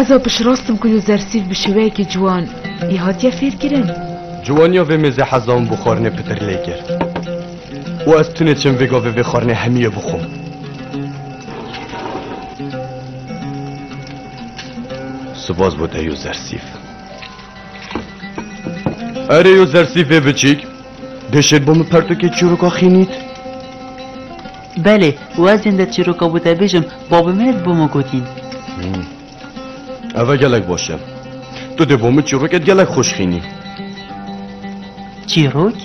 Ez a piştrast im ku yo zersîv bi şêweyekî ciwan yê hatiye fêrkirin. Ciwaniya vê mêzê heza min bi xwarinê pitir lê kir û ez tunê çim vê gavê vê xwarinê hemiyê bixwim. Spas bo te yo zersîv. Erê yo zersîvê biçîk, dê şêt bo min pertûkê çîroka xînît. Belê, wezên de çîroka wî te bêjim, bavê min ê di bo min gotîn. Ev e gelek baş e. Tu dê bo min çîrokê di gelek xweş xînî. Çîrok?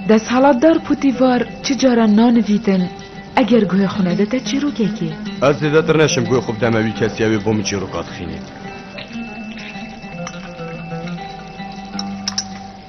Desthilatdar Putîvar çi caran nanivîtin, Eger guhê xwe nede te çîrokekê. Ez zêdetir neşim guhê xwe bideme wî kesî ew ê bo min çîroka dixînî.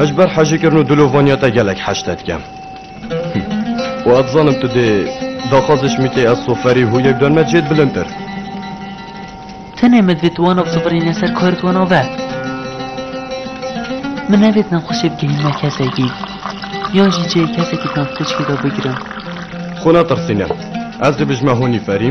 Ez ji ber hejîkirin û dilovaniya te gelek heşte dike. Û ez dizanim tu dê daxwazê ji min tê ez soferî hû yek duan me cêd bilintir. Tenê min divêt wan ev sifirîne ser kar wan ave. Min nevêt nexweşê bigihîn me kesekî. Yan jî cihê kesekî di nav tirkî de bigirim. Xwe netirsîne. Ez dê bijime honî ferî.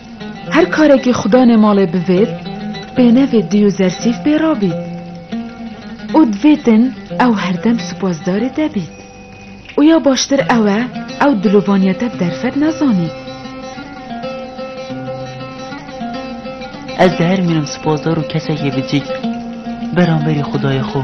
Her karekî xwe danê malê bivêt, pênevê dî û zersîf pê ra bît. Û divêtin ew herdem supasdarê te bît. Û ya baştir ew e ew dilovaniya te bi derfet nezanît. Ez di her mînim supasdar û kesekê bicîk beramberî xwedayê xwe.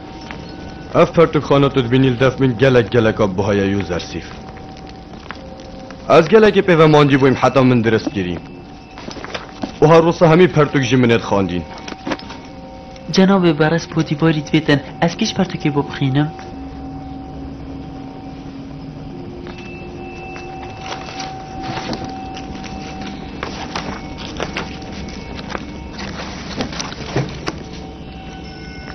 Ev pertûkxana tu dibînî li dest min gelek geleka buha ye yo zersîf. Ez gelekî pê ve mancî bûyim heta min dirist kirî. Buha rûsa hemî pertûk jî min ê dixandîn. Cenabê Beres Podîvarî divê ten ez kî ji pertûkê bo bixînim?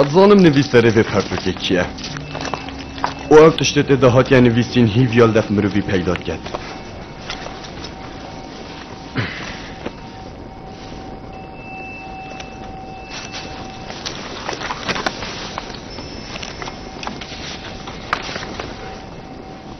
Ez zanim nivîserê vê pertokê kî ye. û ev tiştê tê de hatiye nivîsîn hîv ya li dest mirovî peyda diket.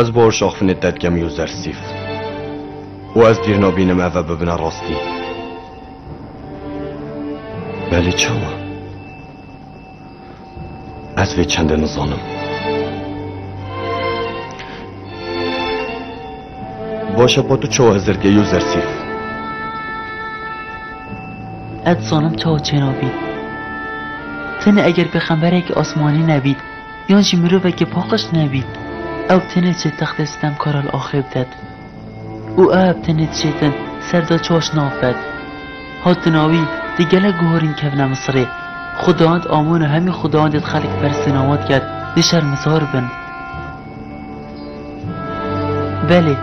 Ez bor şaxfinê te dikem Yozer Sîf. Û ez dîr nabînim eve bibine rastî. Belê çawa? Ez vê çendê nizanim. Başa pa tu çawa hizir diye Yozer Sîf? Ez zanim çawa çênabî. Tenê eger pêxemberekî asmanî nebît, Yan jî mirovekî paqij nebî, ew tenê diçe textê sitemkara li axê bidet û eeb tenê diçe din ser da çaş nav bed. Hatina wî di gelek guharîn kevne Misirê. Xwedayand Amon û hemî xwedayandê di xelk perse nawa dike di şermezar bin. Belê,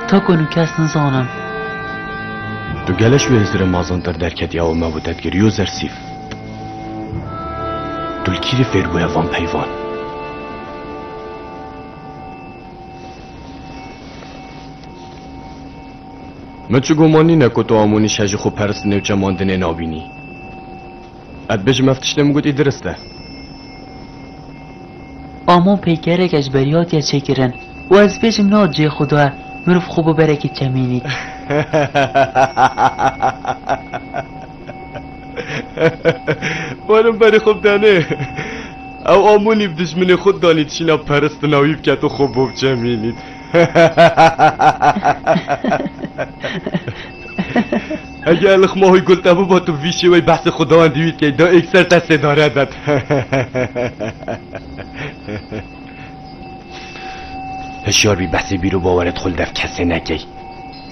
ta ku hûn kes nizanin. Du gele ji wê hizirê mazantir derketiya û me wite di girî û zersîf. Tu li kîrê fêr bûye van peyvan? Min çi guman nîne ku tu Amonî şe ji xwe perist newçe mandinê nabînî. Ev bê ji me ev tiştê min gotî dirist e. Amon peykerek e ji berî hatiye çêkirin û ez bêjim na cihê xwe da e mirov xwe biberekî çemînî. Baran berê xwe bidanê. Ew amonî bi dijminê xwe danî tişîna peristina wî biket û xwe bo biçemînît. Eger lixma hoy gul te biba tu bi vî şêweyê behsê xwe dawan dîwî dikey da êkser te sêdare det. Hişyar bî behsê bîr û bawerê dixwe li dev kesê nekey.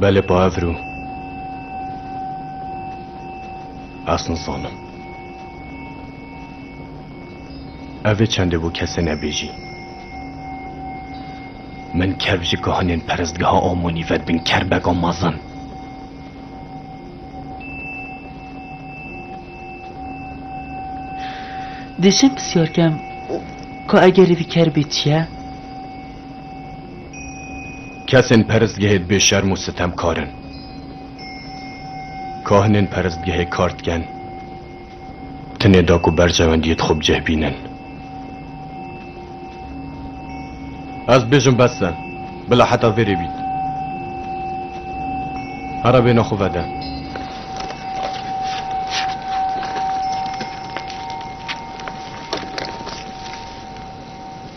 Belê pa ev rû. Ez nizanim. Ev ê çendê bo kesê nebêjî. Min kev ji kahinên perestgeha Amonî ve dibin kerbeka mezin. Dêşem pisyar kem, ka egerî vî kerbê çi ye? Kesên perestgehê dibê şerm û sitemkar in. Kahinên perestgehê kar diken tenê da ku berjewendiyê di xwe bi cih bînin. Ez dibêjim bes e. Bila heta vê rê bît. Here bêhna xwe vede.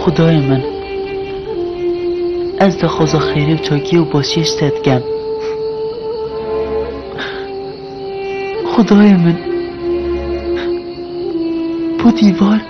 Xwedayê min, ez daxwaza xêrê û çakiyê û başiyê ji te dikem. Xwedayê min, bu dîvar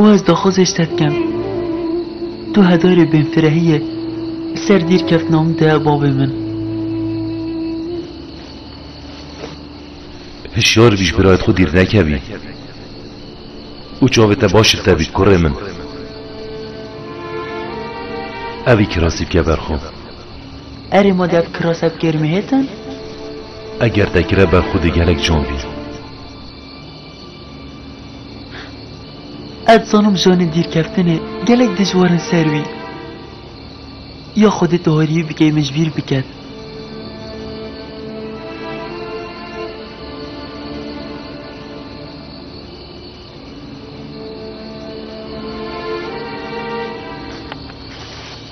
û ez daxwazê ji te dikim. Tu hedarê bêfirehî yê li ser dîrkeftina min de bavê min. Hişyar bî ji birayê xwe dîr nekevî û çavê te baş li te bî kurê min. Evî kirasî bike ber xwe. Erê ma dev kira seb kêrmê hêtin? Eger te kire be xwedî gelek can bî. Ez zanim janê dîrkeftinê gelek dijwar in ser wî. Ya xwedî tu harîyî bikey min ji bîr biket.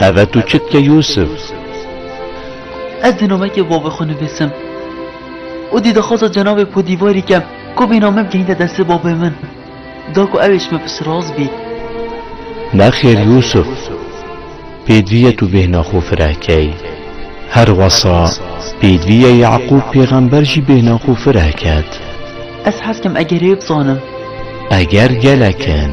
Eve tu çi dike Yûsif? Ez dê nameyekê bi bavê xwe nivîsim. Û dî daxwaza cenabê podîvarî ke ku vê name bigihîne destê babê min. Da ku ewê ji min piştras bî. Nexêr Yûsif, pêdivî ye tu bêhna xwe fireh key. Her wisa pêdivî ye Yeqûb pêxember jî bêhna xwe fireh ket. Ez hez dikim egerê bizanim. Eger gelek in.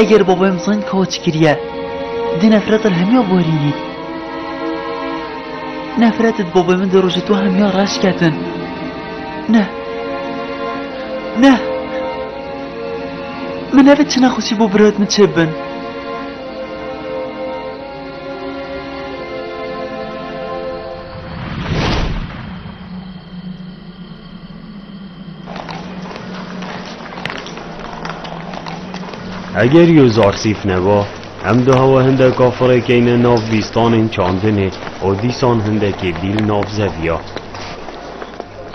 Eger bavê min zayîn kaç kiriye, di nefret re hemiya barînî. Nefretê di bavê min di rojê to hemiya reş ketin. Neh. Neh. Min nevê çi nexweşî bo birayet min çê bin. Eger yo zarsîf neba, em dihewa hindeka firê keyne nav bîstanên çandinê û dîsan hindekê bîl nav zeviya.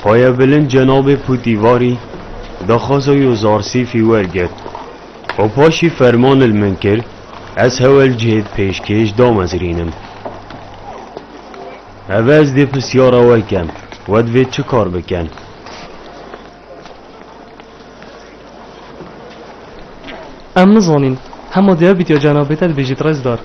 Xweya bilind cenabê Pûtîvarî daxwaza yo zarsîfî wergirt û paşî ferman li min kir ez hewel cihê di pêşkêş damezirînim. Ev ez dê pirsyara we kem, we divê çi kar bikin? Em nizanîn. Hema diyabît ya cenabê te dibêjît rêzdar.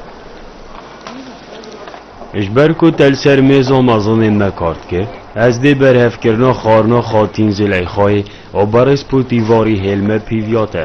Ji ber ku te li ser mêza mezinê me kar dikir, ez dê berhevkirina xwarina Xatîn Zileyxayê û berespûtî varî hêl me pîviya te.